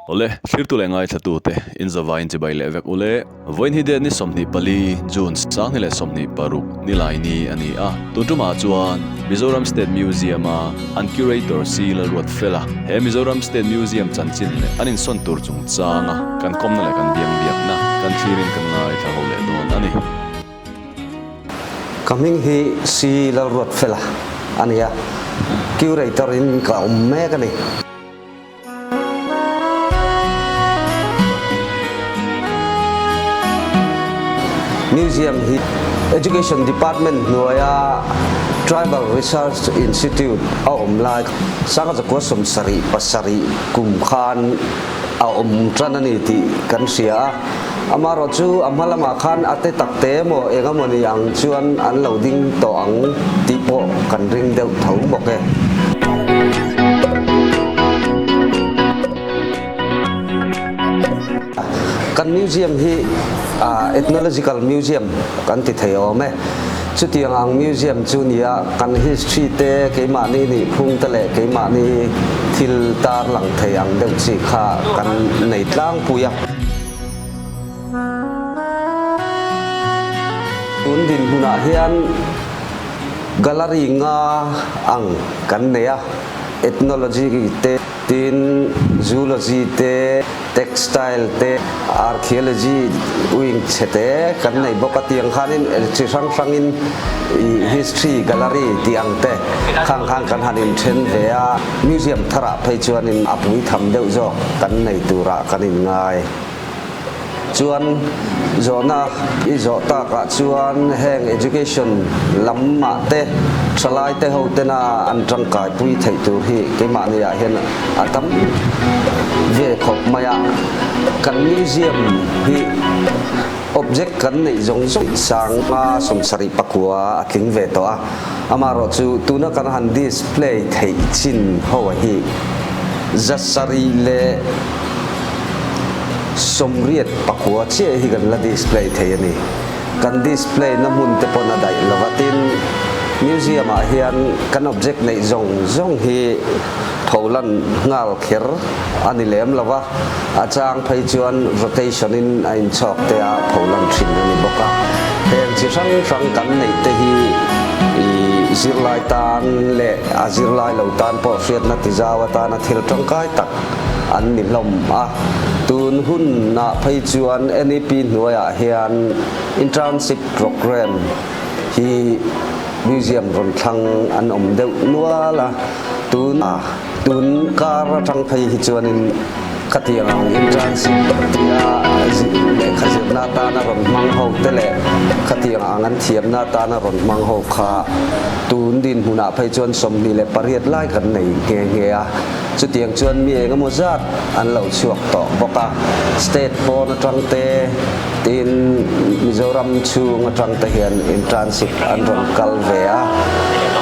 Awle, thirtu leh ngaithlatu te, inzava inchibai leh vek ule. Vawiin hi date ni sawmhnih pali, June, Sangni leh sawmhnih paruk, Nilaini, a ni a. Tuntumah chuan Mizoram State Museum a an curator si la ruat fel a. He Mizoram State Museum chanchin leh an insawn tur chungchanga kan khawmna leh kan biang biakna kan thlir in kan ngaithla ho leh dawn a ni. Ka hming hi Sri Lalruatfela a ni a, Curator in ka awm mek a ni. Museum hi Education Department hnuaia Tribal Research Institute a awm lai Sangazakua sawmsarih pasarih kum khan a awm tan a ni tih kan hria a. Amarawh chu a hma lamah khan a te tak te emaw eng emaw ni ang chuan an lo ding tawh ang tih pawh kan ring deuh tho bawk e. Kan museum hi Ethnological Museum kan ti thei awm e. Chutianga ang museum chu ni a, kan history te, keimahni nihphung te leh keimahni thil tar lang thei ang deuh chi kha kan nei tlangpui a. Tun dinhmunah hian gallery nga ang kan nei a, ethnology te, Tin, Zoology te, Textile te, Archaeology wing chhe te kan nei bawk a. Tiang khanin chi hrang hrangin ih History Gallery tih ang te khang khan kan han inthen ve a. Museum tharah phei chuan in a pui tham deuh zawk kan nei turah kan inngai. Chuan zawhna i zawh takah chuan heng education lam ah te thalai te ho tena an tangkai pui theih tur hi keimahni ah hian a tam ve khawp mai a. Kan museum hi object kan neih zawng zawng sang a sawm sarih pakua a tling ve tawh a, amaherawh chu tuna kan han display theih chin ho hi zasarih leh, sawmriat pakua chiah hi kan la display thei a ni. Kan display na hmun te pawh a daih lo va tin, museum ah hian kan object neih zawng zawng hi pho lan nghal kher a ni lem lo va, a chang phei chuan rotation in a in chhawk te a pho lan thin a ni bawk a. Heng chi hrang hrang kan neih te hi ih zirlai tan leh a zirlai lo tan pawh hriatna ti zau atana thil tangkai tak, an ni hlawm a. Tun hunah phei chuan NEP hnuaiah hian Internship Programme hi Museum rawn thlang an awm deuh nual a. Tun a tun kar atang phei hi chuanin khatiang ang Internship tia lehkha zirna atana rawn hmang ho te leh khatiang ang an thiamna atana rawn hmang ho kha tun dinhmunah phei chuan sawmhnih leh pariat lai kan nei nghe nghe a. Chutiang chuan mi eng emaw zat an lo chhuak tawh bawk a, state pawn atangte tiin Mizoram chhung atangte hian internship an rawn kal ve a.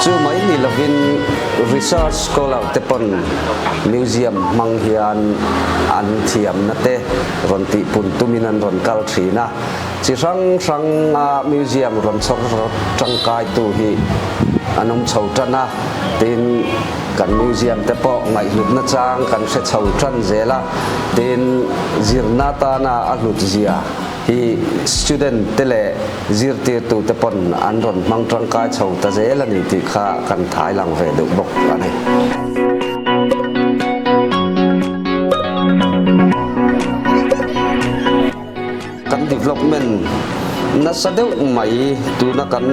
Chu mai ni lovin research scholar te pawn museum hmang hian an thiamna te rawn tihpun tumin an rawn kal thin a. Chi hrang hranga museum rawn chhawr tangkaitu hi an awm chho tan a, tiin. Kan museum te pawh ngaihlutna chang kan hre chho ṭan zel a, tin zirna atana a hlutzia hi student te leh zirtirtu te pawn an rawn hmang ṭangkai chho ta zel a ni tih kha kan thailang ve deuh bawk a ni. Kan development nasa deuh mai tuna kan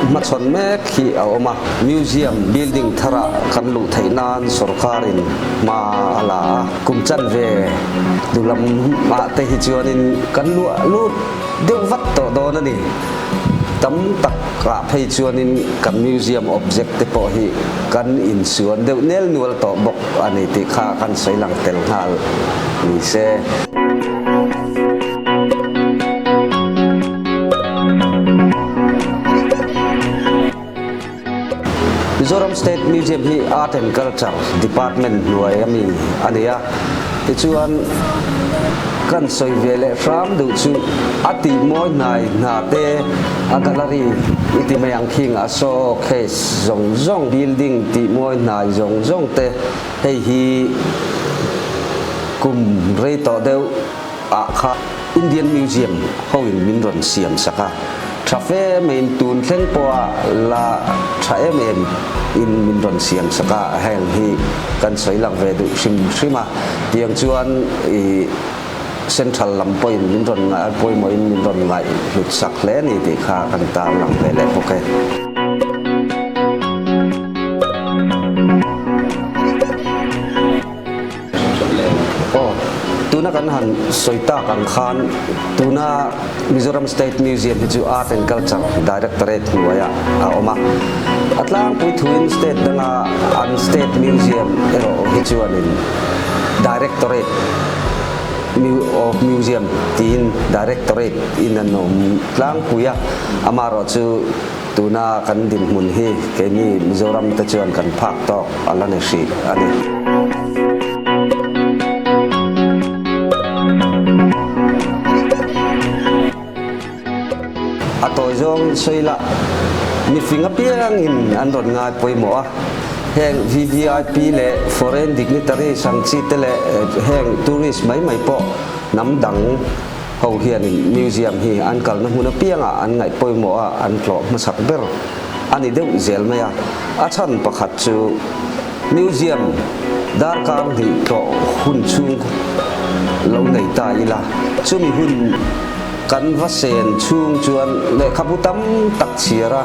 hmachhawn mek hi a awm a, museum building thar ah kan luh theih nan sorkar in hma a la a, kum chanve duh lam ah te hi chuan in kan luah lut deuh vat tawh dawn a ni, tam tak ah phei chuan in kan museum object te pawh hi kan in suan deuh nel nual tawh bawk a ni tih kha kan sawi lang tel nghal ni se. Mizoram State Museum hi Art and Culture Department hnuai ami a ni a, tichuan kan sawi ve leh hram duh chu a tihmawi hnai hna te a gallery i ti mai ang khi anga showcase zawng zawng, building tihmawi hnai zawng zawng te, Hei hi kum rei tawh deuh ah kha Indian Museum ho in min rawn siam sak a, tha fe mai in tun thleng pawha la tha em em in min rawn siam sak a, heng hi kan sawi lang ve duh hrim hrim a, tiang chuan ih. Central lam pawhin min rawn ngaih, pawimawhin min rawn ngaih hlut sak hle a ni tih kha kan tar lang ve leh bawk e. Aw, tuna kan han sawi tak ang khan tuna. Mizoram State Museum hi chu Art and Culture Directorate hnuaia a awm a, a tlangpui thuin state danga an State Museum erawh hi chuanin Directorate of Museum tiin Directorate in an awm tlangpui a, amaherawhchu. Tuna kan dinhmun hi keini Mizoram te chuan kan phak tawk a la ni hrih a ni. A tawi zawng sawi lah, mifing apiang in an rawn ngai pawimawh a, heng VVIP leh foreign dignitaries ang chi te leh heng tourist mai mai pawh hnam dang. Ho hian in museum hi an kalna hmun apiangah an ngaih pawimawh a, an tlawh hmasak ber a ni deuh zel mai a. A chhan pakhat chu museum darkar hnih tlawh hun chhung lo nei ta ila, chumi hun kan va sen chhung chuan lehkhabu tam tak chhiar a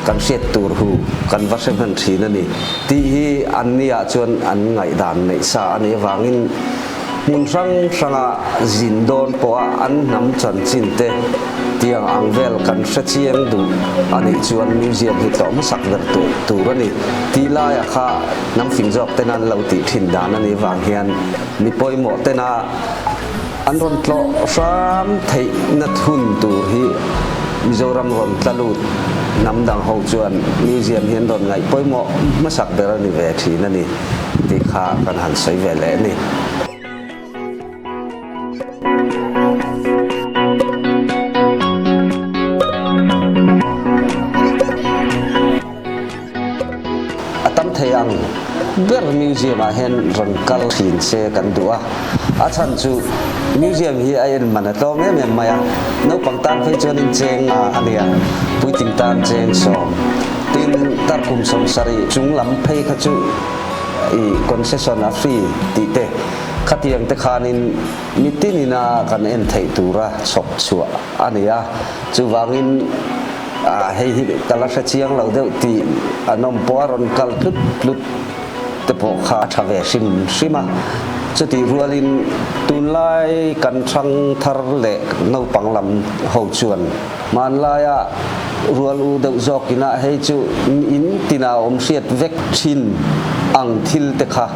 kan hriat tur hu kan va hre hman thin a ni tih hi an nia chuan an ngaih dan neih sa a nih avangin, Hmun hrang hrangah zin dawn pawha an hnam chanchinte tiang ang vel kan hre chiang duh a nih chuan museum hi tlawh hmasak ber tawh tur a ni. Ti laia kha hnam fing zawk tena an lo tih thin dan a nih vang hian mi pawimawh tena an rawn tlawh hram theih nat hun tur hi Mizoram rawn tla lut hnam dang ho chuan museum hi an rawn ngaih pawimawh hmasak ber a ni ve thin a ni. tih kha kan han sawi ve leh a ni. ber museum ah hian rawn kal thin se kan duh a a chhan chu museum hi a en man a tlawm em em mai a naupang tan phei chuan in cheng a nia puitling tan cheng sawm. Tin, Tar kum sawm sarih chung lam phei kha chu i concession a free tih te, khatiang te khanin mitin ina kan en theih tura chhawp chhuah a ni a, chuvangin hei hi ka la hre chiang lo deuh tih an awm pawh a, rawn kal hlut hlut te pawh kha a tha ve hrim hrim a, chutih rualin tunlai kan thang thar leh naupang lam ho chuan Hmanlaia rual u deuh zawk inah hei chu miin tina awm hriat vek thin ang thil te kha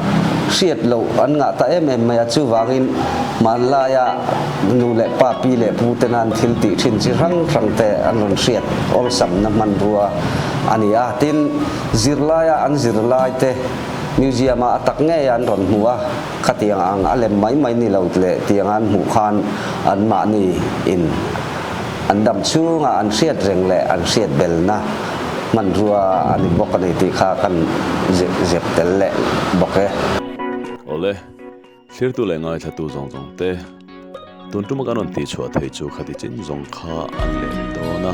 hriat loh an ngah ta em em mai a, chuvangin hmanlaia nu leh pa, pi leh pu te nan thil tih thin chi hrang hrang te an rawn hriat awlsamna hmanrua a ni a, tin zirlaia an zir lai te museum-ah a tak ngei a an rawn hmu a. Khatiang ang a lem mai mai ni lo leh tianga an hmuh khan an mahni in an dam chhunga an hriat reng leh an hriat belna hmanrua a ni bawk a ni tih kha kan ziak tel leh bawk e. Awle, thlirtu leh ngaithlatu zawng zawng te. Tun ṭuma kan rawn tihchhuah thei chu khati chin zawng kha an leh ri dawn a.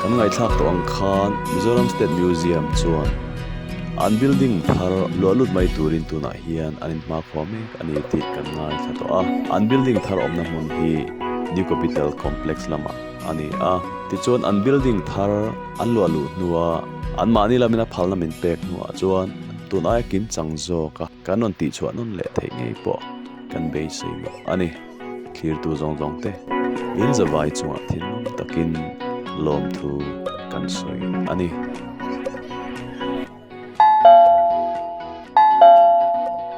Kan ngaithlak tawh ang khan Mizoram State Museum chuan an building thar luah lut mai turin tunah hian an inhmakhua mek a ni tih kan ngaithla tawh a. An building thar awmna hmun hi New Capital Complex lamah a ni a. Tichuan an building thar an luah luh hnua anmahni lamin a phalna min pek hnuah chuan tun aia kim chang zawk a. Kan rawn tihchhuah nawn leh theih ngei pawh kan beisei loh a ni. Thlirtu zawng zawng te in zavai chungah thinlung takin lawmthu kan sawi a ni.